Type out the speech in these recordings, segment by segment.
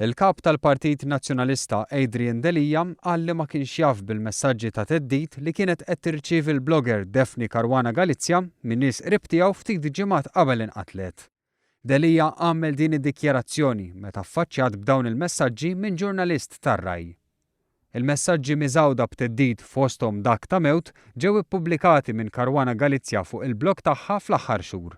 Il-Kap tal-Partit Nazzjonalista Adrian Delia qal li ma kienx jaf bil-messaġġi ta' theddid li kienet qed tirċievi l-blogger Daphne Caruana Galizia minn nies qrib tiegħu ftit ġimgħat qabel inqatlet. Delia għamel din id-dikjarazzjoni meta ffaċċjat b'dawn il-messaġġi minn ġurnalist tar-Rai. Il-messaġġi miżgħuda b'theddid fosthom dak ta' mewt ġew ippubblikati minn Caruana Galizia fuq il-blog tagħha fl-aħħar xhur.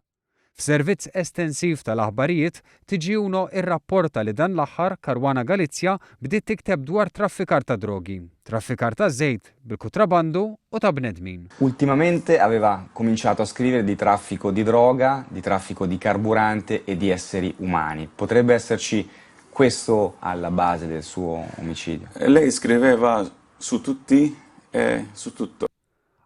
F'servizz estensiv tal-aħbarijiet, TGuno irrapporta li dan l-aħħar Caruana Galizia bdiet tikteb dwar traffikar ta' drogi, traffikar ta' żejt bil-kutrabandu u ta' bnedmin. Ultimamente aveva cominciato a scrivere di traffico di droga, di traffico di carburante e di esseri umani. Potrebbe esserci Questo alla base del suo omicidio. Lei scriveva su tutti e su tutto.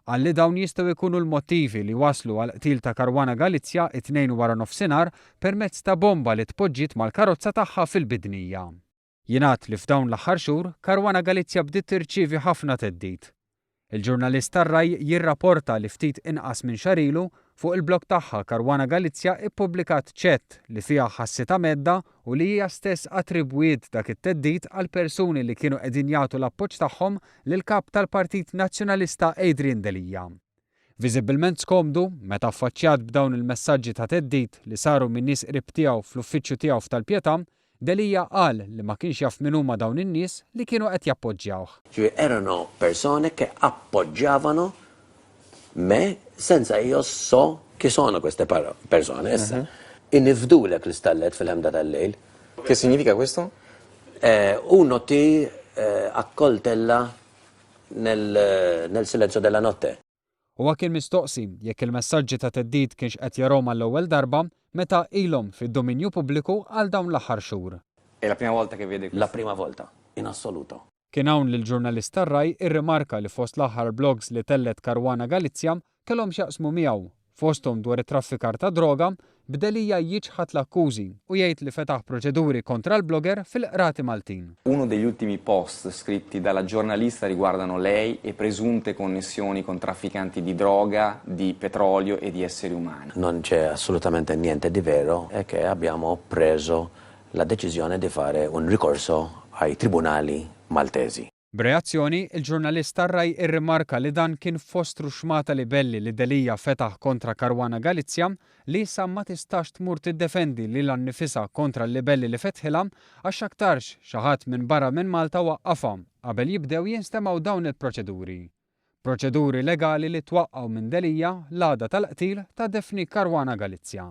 Qal li dawn jistgħu jkunu l-mottivi li wasslu għall-qtil ta' Caruana Galizia t-Tnejn waranofsinhar permezz ta' bomba li tpoġġiet mal-karozza tagħha fil-Bidnija. Jingħad li f'dawn l-aħħar xhur, Caruana Galizia bdiet tirċievi ħafna theddid. Il-ġurnalist tar-RAI jirraporta li ftit inqas minn xahar ilu, fuq il-blog tagħha Caruana Galizia ippubblikat chat li fiha ħassitha mhedda u li hija stess attribwiet dak it-theddid għall-persuni li kienu qegħdin jagħtu l-appoġġ tagħhom lill-Kap tal-Partit Nazzjonalista Adrian Delia. Viżibbilment skomdu, meta affaċċjat b'dawn il-messaġġi ta' theddid li saru minn nies qrib tiegħu fl-uffiċċju tiegħu f'Tal-Pietà, Delia qal li ma kienx jaf min huma dawn in-nies li kienu qed jappoġġjawh. Ġifieri erano persone che appoggiavano me senza io so chi sono queste persone. Issa, inifdulek l-istallet fil-ħemda tal-lejl. Che significa questo? U noti a coltella nel nel silenzio della notte. Huwa kien mistoqsi jekk il-messaġġi ta' theddid kienx qed jarahom għall-ewwel darba meta ilhom fid-dominju pubbliku għal dawn l-aħħar xhur. È la prima volta che vede questo? La prima volta, in assoluto. Kien hawn li l-ġurnalist tar-Rai rrimarka li fost l-aħħar blogs li tellgħet Caruana Galizia kellhom x'jaqsmu miegħu, fosthom dwar it-traffikar tad-droga, b'Delia jiċħad l-akkużi u jgħid li fetaħ proċeduri kontra l-blogger fil-Qrati Maltin. Uno degli ultimi post scritti dalla giornalista riguardano lei e presunte connessioni con trafficanti di droga, di petrolio e di esseri umani. Non c'è assolutamente niente di vero è che abbiamo preso la decisione di fare un ricorso ai tribunali maltesi. B'reazzjoni, il-ġurnalist tar-Rai irrimarka li dan kien fostru xmata libelli li Delia fetaħ kontra Caruana Galizia li issa ma tistax tmur tiddefendi lilha nnifisha kontra l-libelli li fetħilha għax x'aktarx xi ħadd minn barra minn Malta waqqafha qabel jibdew jinstemgħu dawn il-proċeduri. Proċeduri legali li twaqqgħu minn Delia l-għada tal-qtil ta' Daphne Caruana Galizia.